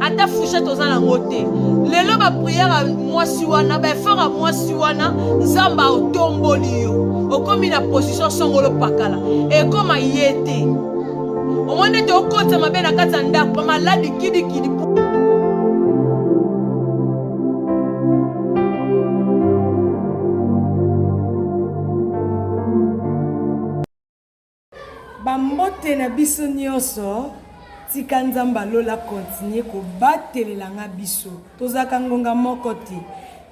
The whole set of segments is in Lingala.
ata fouchette oza nango te lelo bapriere ya mwasi wana baefort ya mwasi wana nzambe aotomboli yo okomi na position songolo pakala ekoma ye te omoni ete okotisa mabe na kati ya ndako bamaladi kidikidi Ba mbote na biso nioso tika nzambe ya lola a continue ko batelela nga biso tozalaka ngonga moko te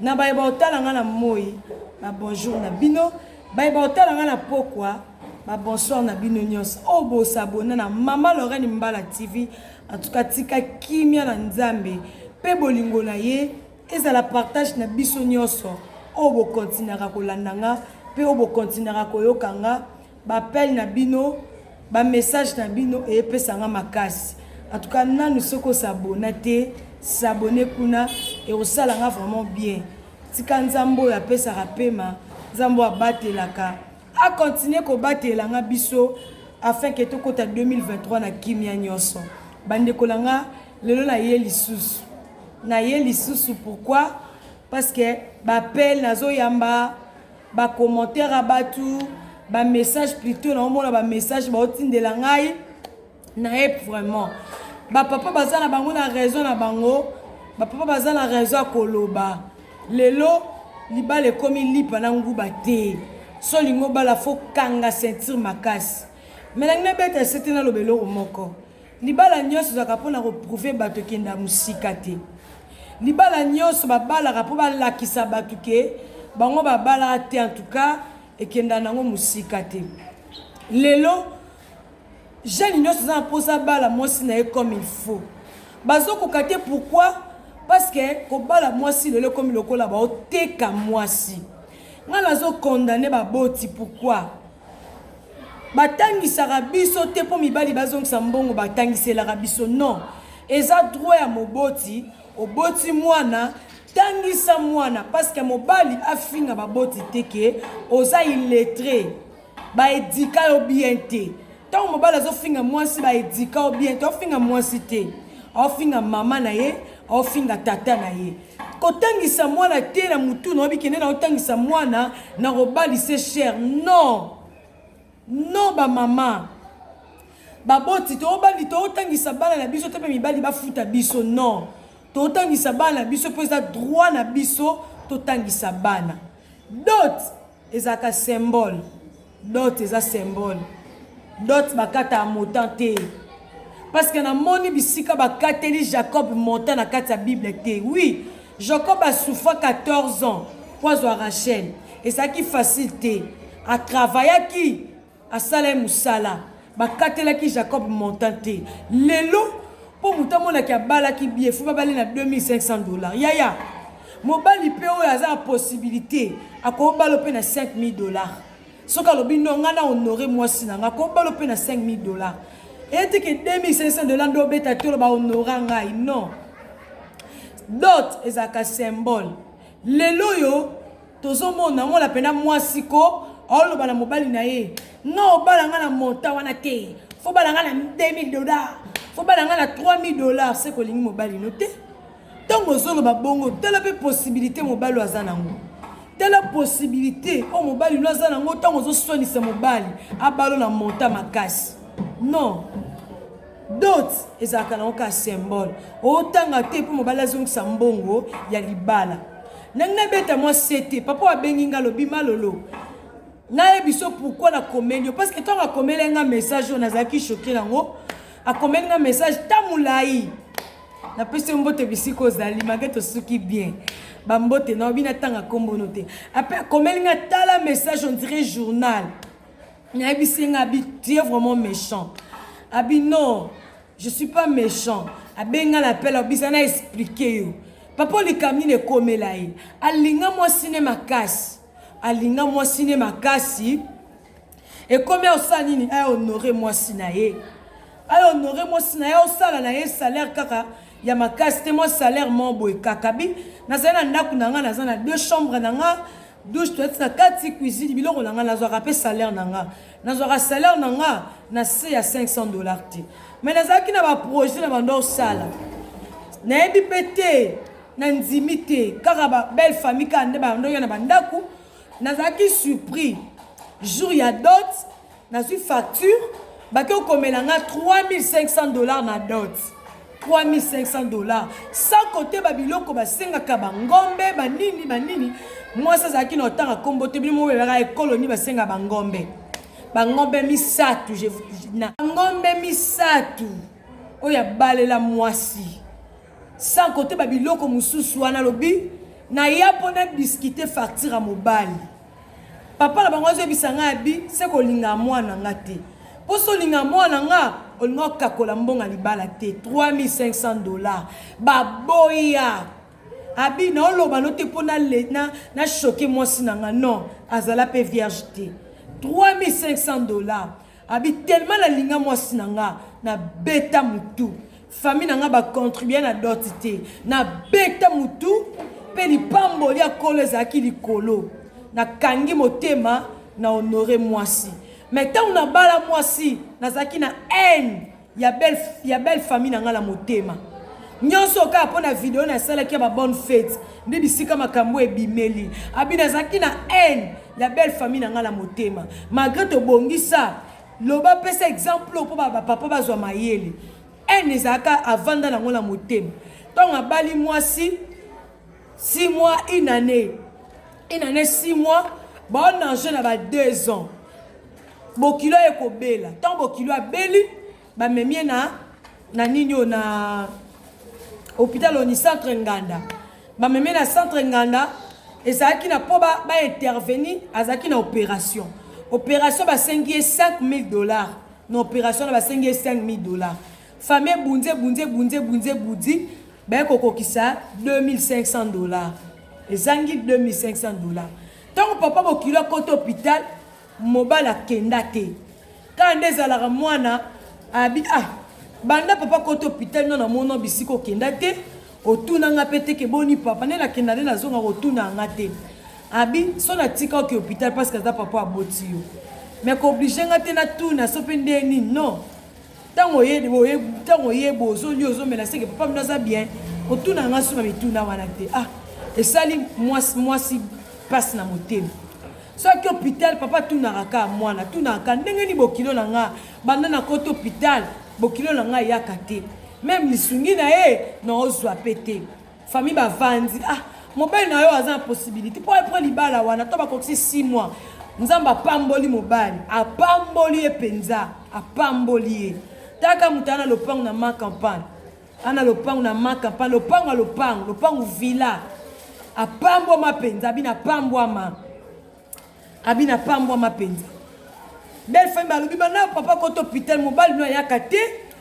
na baye ba otala nga na moyi ba bonjour na bino baye ba otala nga na pokwa ba bonsoir na bino nioso oyo oh, bo s'abonner na mama Lorraine Mbala TV en tout cas tika kimia na nzambe pe bolingo na ye ezala partage na biso nioso oyo oh, bo continuaka kolanda nga pe oyo oh, bo continuaka koyoka nga Ba appel na bino, ba message na bino epesa nga makasi. En tout cas nanu soki o s'abonna te, s'abonner kuna ekosala nga vraiment bien. Tika Nzambe oyo apesaka pema, Nzambe oyo abatelaka a continuer kobatela nga biso afin que tokota 2023 na kimia nionso. Ba ndeko na nga lelo naye lisusu. Naye lisusu pourquoi? Parce que ba appel nazoyamba ba commentaire ya batu ba message plutot naomona ba message baotindela ngai nayebi vraiment bapapa baza na bango na raison na bango bapapa baza na raison ya koloba lelo libala ekomi lipa na nguba te so olingi obala fo kanga ceinture makasi me nangi nabeta sete naloba eloko moko Libala nionso ezalaka pona ko prouver bato kende ya musika te. Libala nionso ba balaka po ba lakisa bato ke bango ba balaka te en tout cas ekenda nango musika te. Lelo jeune nionso aza na posa abala mwasi na ye comme il faut. Bazo koka te pourquoi? Parce que ko bala mwasi lelo ekomi lokola bao teka mwasi. Nga nazo condamner ba boti pourquoi? Ba tangisaka biso te po mibali ba zongisa mbongo ba tangiselaka biso non eza droit ya moboti oboti muana tangisa muana parce que mobali afinga ba boti te ke oza illettre ba eduka yo bien te tango mobali azo finga muasi ba eduka yo bien te ofinga muasi te ofinga maman na ye ofinga tata na ye Kotangisa mwana te na mutu na obi kende na otangisa mwana na robali se cher non non ba mama baboti toobandi tootangisa bana na biso te mpe mibali bafuta biso non tootangisa bana na biso mpo eza droit na biso totangisa bana dot Ezalaka symbole. Dot eza symbole. Dot bakata ya motan te. Parce que namoni bisika bakateli Jacob montant na kati ya Bible te. Oui, Jacob a souffra 14 ans pour azwa Rachel. Ezalaki facile te. A travaillaki Asala ye musala. Bakatelaki Jacob montant te. Lelo po mutu amona ke abalaki bien faut babale na 2500 dollars. Yaya mobali pe oyo aza na possibilite akobalo pe na 5000 dollars. Soki alobi non nga na honore mwasi na nga akobalo pe na 5000 dollars. Eyete ke 2500 dollars nde obeta tolo ba honora ngai non. Dot ezalaka symbole. Lelo yo Tozo mona mona pena mwasi ko azo loba na mobali na ye nga obala nga na montant wana te faut bala nga na 2000 dollars faut bala nga na 3000 dollars se kolingi mobali no te ntango ozoloba bongo tala mpe possibilité mobali aza nango tala possibilité oyo mobali no aza nango ntango ozoswanisa mobali abalo na monta makasi non dot ezalaka nango kaka symbole otanga te mpo mobali azongisa mbongo ya libala nangi nabeta mwa sete papa abengi nga lobi malolo nayebi so pourkui nakomeli yo parceke ntango akomeli nga message oyo nazalaki shoke nango akomeli nga message ta molai napesi yo mbote bisika ozali mage tosuki bien bambote na obi natanga nkombono te ape akomeli nga tala message ondire journal nayebisi nga abi tu es vraiment méchant abi non je suis pas méchant abenga na pela obisa na explike yo papa olika nini ekomela ye alinga mwasi ne makasi alinga mwasi ne makasi ekomi osala nini ahonore mwasi na ye ahonore mwasi na ye osala na ye salaire kaka ya makasi te mwa salaire mo boye kakabi nazali na ndako na ngai naza na deux chambre na ngai douche toilette na kati cuisine biloko na nga nazwaka pe salaire na nga nazwaka salaire na nga na se ya 500 dollars te mais nazalaki na ba projet na banda osala nayebi pe te na ndimi te kaka ba belle famille kaka nde bandoya na bandako nazalaki surpris jour ya dot Nazui facture bake okomela nga 3500 dollars na dot 3500 dollars sans kote babiloko basengaka bangombe banini banini mwasi azalaki na otanga nkombo te bino mobelaka ekolo nini basenga bangombe bangombe misato bangombe misato oyo abalela mwasi sans kote babiloko mosusu wana alobi naya mpo na diskite facture ya mobali Papa na bango azo yebisa nga abi se ko linga mwana nga te. Po so linga mwana nga olinga okakola mbonga libala te 3500 dollars ba boya abi na oloba no te pona le na na choquer mwasi na nga non azala pe vierge te 3500 dollars Abi tellement na linga mwasi na nga na beta mutu famille na nga ba contribuer na dot te na beta mutu pe lipamboli ya kolo ezalaki likolo na kangi motema na honore mwasi mais ntango nabala mwasi nazalaki na haine Ya belle ya belle famille na nga na motema. Nionso kaka mpo na video na salaki ya ba bonne fete nde bisika makambo ebimeli. Abi nazalaki na haine ya belle famille na nga na motema. Malgré tobongisa loba pesa exemple mpo ba papa bazwa mayele. Haine ezalaka avanda nango na motema. Ntango abali mwasi 6 mois une année une année 6 mois baona enjeu na ba 2 ans Bokilo eko bela. Tant bokilo abeli ba memie na na nini o na hôpital oni centre Nganda. Ba memie na centre Nganda ezalaki na po ba ba intervenir azalaki na operation. Operation ba sengi ye 5000 dollars. Na operation na ba sengi ye 5000 dollars. Famille bunze bunze bunze bunze budi ba ko kokisa 2500 dollars. Ezangi 2500 dollars. Tant papa bokilo akoto hôpital Mobali akenda te kaka nde ezalaka mwana abi ah banda papa kota hopital no na mono bisika okenda te otuna nga pe te ke boni papa nde nakenda nde nazonga kotuna nga te abi so natika oke hopital parce que aza papa aboti yo mais kooblige nga te natuna so pe nde nini non ntango oye boye ntango oye bo ozoli ozo mela seke papa mino aza bien otuna nga suna mituna wana te ah esali mwasi mwasi mpasi na motema soki hôpital papa atunaka kaka mwana atunaka kaka ndenge nini bokilo na nga banda na kota hôpital bokilo na nga eyaka te meme lisungi na ye naozwa mpe te Famille ba vandi ah mobali na yo aza na possibilité po après libala wana to bakokisi 6 mois nzambe apamboli mobali apamboli ye mpenza apamboli ye taka moto ana lopango na ma campagne ana lopango na ma campagne lopango ya lopango lopango villa apambwama mpenza bino apambwama Abina apambwama mpenza. Belle famille balobi bana papa kota hôpital mobali no ayaka te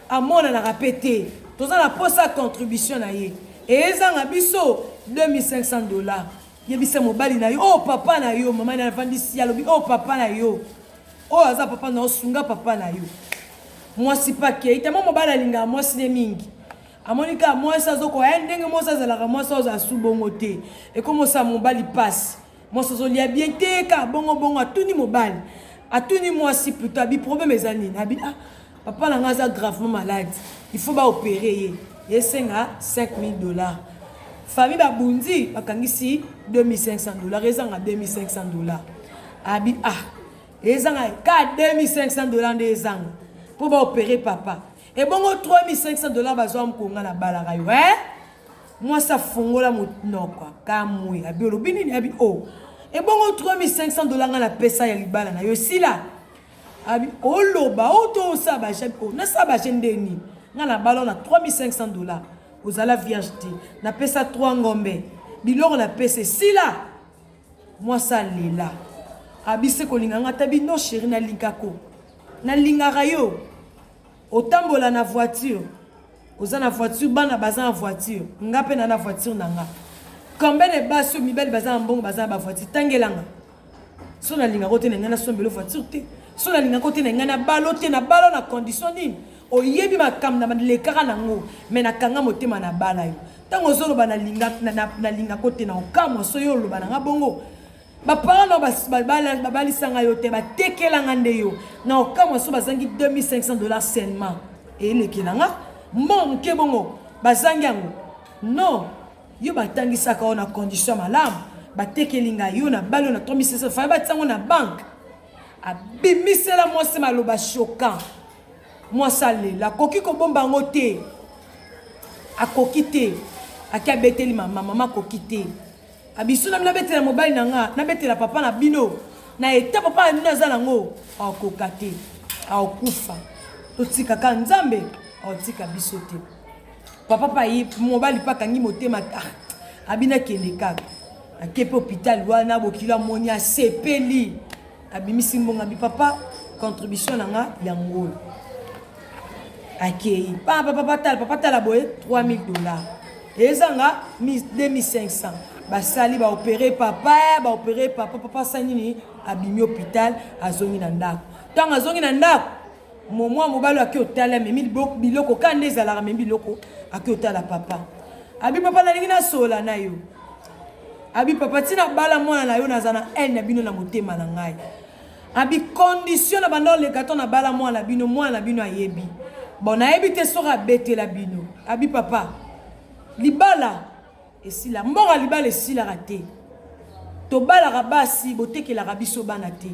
amonanaka mpe te toza na mposa ya contribution na ye eyezanga biso 2500 dollars yebisa mobali na yo oyo oh, papa na yo mama na avandisi alobi oyo oh, papa na yo oyo oh, aza papa na yo sunga papa na yo mwasi mpe akei tama mobali alingaka mwasi ne mingi amoni kaka mwasi azokoya ndenge mwasi azalaka mwasi oyo azala su bongo te ekomosala mobali mpasi Mwasi ozo lia bien te ka bongo bongo atuni mobali atuni mwasi plutot abi problème eza nini abi ah papa na nga aza gravement malade il faut ba opérer ye esenga 5000 dollars famille babundi bakangisi 2500 dollars ezanga 2500 dollars abi ah ezanga ka 2500 dollars nde ezanga mpo baopere papa ebongo 3500 dollars bazwa mkonga na balaka yo e mwasi afongola monoko akamwe abi olobi nini abi o oh. ebongo 3500 dollars ngai napesa ya libala na yo esila abi oloba o to osala bajene o nasala bajene nde nini ngai nabala na 3500 dollars ozala vierge te napesa 3 ngombe biloko napesa esila mwasi alela abise kolinga ngai ata bino sheri nalingako nalingaka yo Otambola na voiture oza na voiture bana baza na voiture nga mpe na na voiture na nga combien de basi oyo mibali baza na mbongo baza na bavoiture tangelanga so nalingaka ote na ngai nasombelo voiture te so nalingaka ote na ngai nabalo te nabalo na condition nini oyebi makambo na lekaka nango me nakanga motema na bala yo ntango ozoloba nalingaka ote na okamwa so yo oloba na ngai bongo baparent nao babalisanga yo te batekelanga nde yo na okamwa so bazangi 2500 dollars seulement elekela nga mbongo moke bongo bazangi yango non yo batangisaka yo na condition malamu batekeli ngai yo na bali yo na 3600 fai batiango na banke abimisela mwasi maloba choquant mwasi alela akoki kobomba yango te akoki te ake abeteli mama mama akoki te A bisous na bino abetela mobali na nga na betela papa na bino na eta papa na bino aza nango akoka te akokufa totika ka nzambe akotika biso te papa pa ye mobali pa akangi motema ta abina kende kaka akepe hôpital wana bokilo amoni asepeli abimisi mbongo abi papa contribution na nga ya ngolo akei papa papa tala papa tala boye 3000 dollars ezanga 2500 basali baopere papa baopere papa papa asali nini abimi hôpital azongi na ndako ntango azongi na ndako Momo ya mobali ake otala memi biloko ka nde ezalaka memi biloko ake otala papa abi papa nalingi nasola na yo abi papa ntina bala mwana na yo naza na haine na bino na motema na ngai abi condition na banda oleka to na bala mwana na bino mwana na bino ayebi bon nayebi te soki abetela bino abi papa libala esila mbongo libala esilaka te tobalaka basi botekelaka biso bana te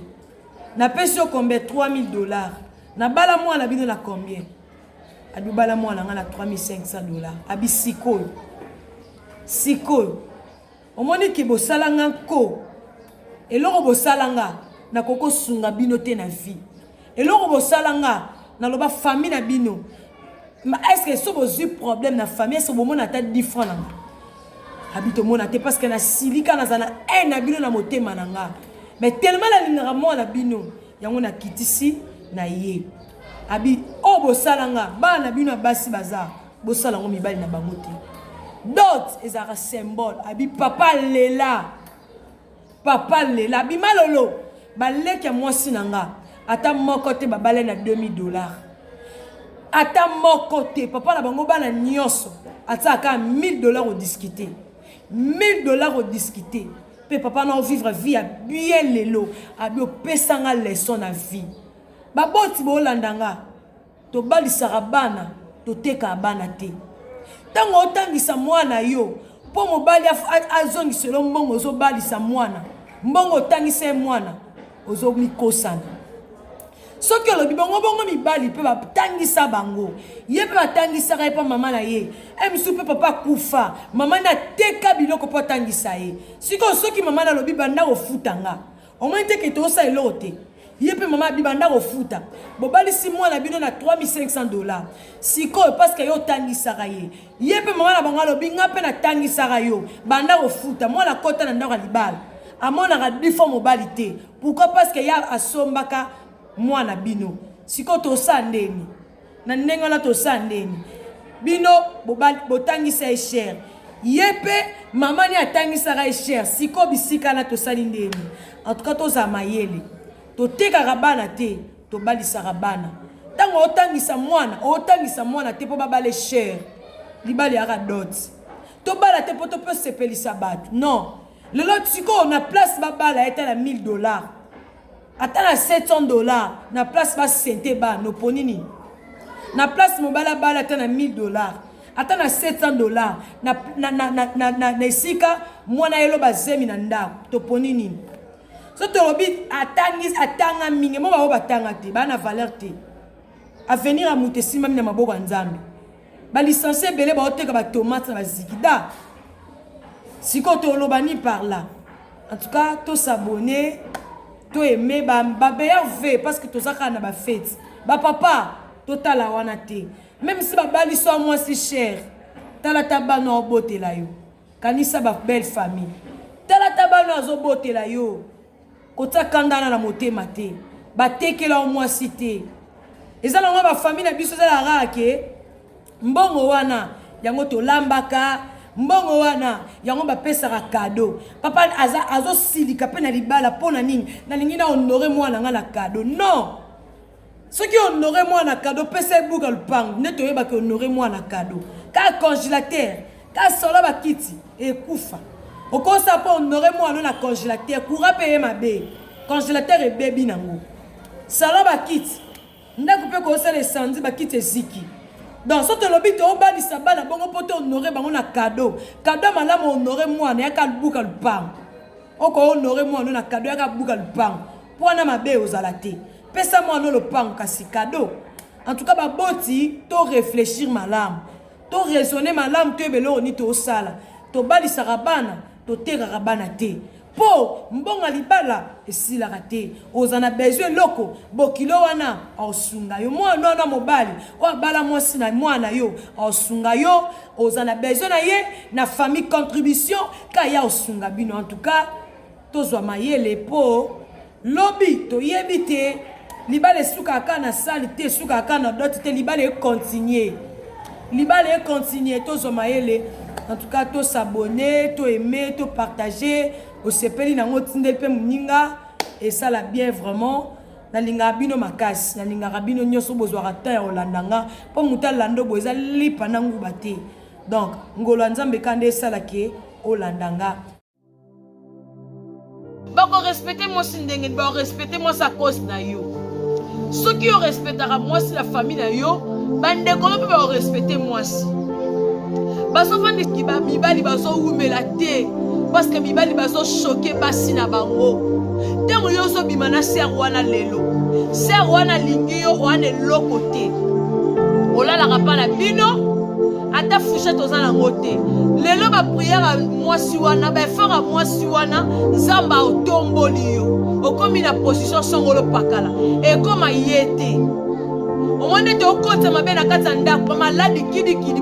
napesi yo combien 3000 dollars nabala mwana bino na combien abibala mwana ngai na 3500 dollars abi sikoyo sikoyo omoni ke bosala nga nko eloko bosala nga nakoki kosunga bino te na vie Eloko bosala nga na loba famille na bino. Ma est-ce que so bozui problème na famille so bomona ata different na nga. Abi tomona te parce que na silika na zana haine na bino na motema na nga. Mais tellement na lingaka mwana bino yango na kitisi na ye. Abi o oh, bosala nga bana bino basi baza bosala ngo mibali na bango te. Dot ezalaka symbole abi papa lela. Papa lela bima lolo ba leki ya mwasi na nga ata moko te babale na 2000 dollars ata moko te papa na bango bana nyonso atia aka 1000 dollars odiscute 1000 dollars odiscute mpe papa na ovivre vie ya bien lelo abi opesa nga leson na vie baboti boolanda nga Tobalisaka bana, totekaka bana te. Tango otangisa mwana yo po mobali azongisa yo mbongo ozobalisa mwana, mbongo otangisa ye mwana, ozomikosana. soki olobi bongo bongo mibali mpe batangisa bango ye mpe batangisaka ye mpe mama na ye e mosusu mpe papa akufa mama nde ateka biloko mpo atangisa ye sikoyo soki mama nalobi banda kofuta nga Omoni te ke tosa eloko te. Ye pe mama abi banda kofuta. Bobalisi mwana bino na 3500 dollars. Sikoyo parce que yo otangisaka ye. Ye pe mama na bango alobi nga pe natangisaka yo. Banda kofuta. Mwana akota na ndako ya libala. Amonaka defaut mobali te. Pourquoi parce que ya asombaka mwana bino. Sikoyo tosa ndeni. Na ndenge wana tosala ndeni? Bino botangisa ye cher. Ye pe mama ni atangisaka ye cher. Siko bisika na tosali ndeni? En tout cas tozala mayele. Totekaka bana te, tobalisaka bana. Tango otangisa mwana, otangisa mwana te po babale cher. Libala yaka dot. Tobala te po to pe sepelisa bato. Non. Lelo siko na place babala ye tala 1000 dollars. Ata na 700 dollars na place ba sente ba no poni nini? Na place mobala bala ata na 1000 dollars ata na 700 dollars na, na, na, na, na, na, na esika mwana yelo bazemi na ndako toponi nini so tolobi atangi atanga mingi mo bango batanga te baa na valeur te avenir ya moto esimbami na maboko ya nzambe Ba licencie ebele ba oteka ba tomates na ba zigida. Siko to loba ni par là. En tout cas, to s'abonner, to aimer ba ba meilleur vœu parce que toza kaka na ba fêtes. Ba papa, to tala wana te. Même si ba bali so moi si cher. Tala ta bana obotela yo. Kanisa ba belle famille. Tala ta bana azobotela yo. Kotia kanda wana na motema te. Ba tekela yo mwasi te. Eza na ngo ba famille na biso eza la rare ke mbongo wana yango tolambaka mbongo wana yango bapesaka kado papa aza azosilika mpe na libala mpo na nini nalingi na honore mwana ngai na kado non soki honore mwana kado pesa ebuka lupangu nde toyebaki honore mwana kado kaka congélateur kaka solo bakiti ekufa okosa mpo honore mwana na congélateur courant mpe ye mabe congélateur ebebi nango solo bakiti ndako mpe kosala esanzi bakiti eziki donc so tolobi toobandisa bana bongo mpo to honore bango na kado kado malamu honore mwana yaka lubuka lupangu oko honore mwana na kado yaka buka lupango mpo wana mabe ozala te pesa mwana lopango kasi kado en tout cas baboti to réfléchir malamu to raisonne malamu toyeba eloko nini tosala tobalisaka bana totekaka bana te mpo mbonga libala esilaka te oza na besoin eloko bokilo wana aosunga yo mwana wana mobali oyo abala mwasi na mwana yo aosunga yo oza na besoin na ye na famille contribution Ka ya osunga bino en tout cas tozwa mayele po lobi toyebi te libala esukaka kaka na sali te esukaka kaka na dote te libala ekontinue libala ekontinue tozwa mayele en tout cas tosabone to aime to partage osepeli nango otindeli mpe moninga esala bien vraiment nalingaka bino makasi nalingaka bino nyonso bozwaka temps ya kolanda nga mpo moto alanda obo eza lipa na nguba te Donc ngolu ya Nzambe ka nde esala ke olanda nga. Bako respecter mwasi ndenge ba respecter mwasi à cause na yo. Soki yo respectaka mwasi la famille na yo, ba ndeko mpe ba respecter mwasi. Bazofanda kiba mibali bazowumela te parce que mibali bazo choquer basi na bango. ntango yo ozobima na ser wana lelo ser wana alingi yo wana eloko te olalaka mpa na bino ata fushete oza nango te lelo bapriere ya mwasi wana baefort ya mwasi wana nzambe aotomboli yo okomi na position songolo pakala ekoma ye te omoni ete okotisa mabe na kati ya ndako maladi kidikidi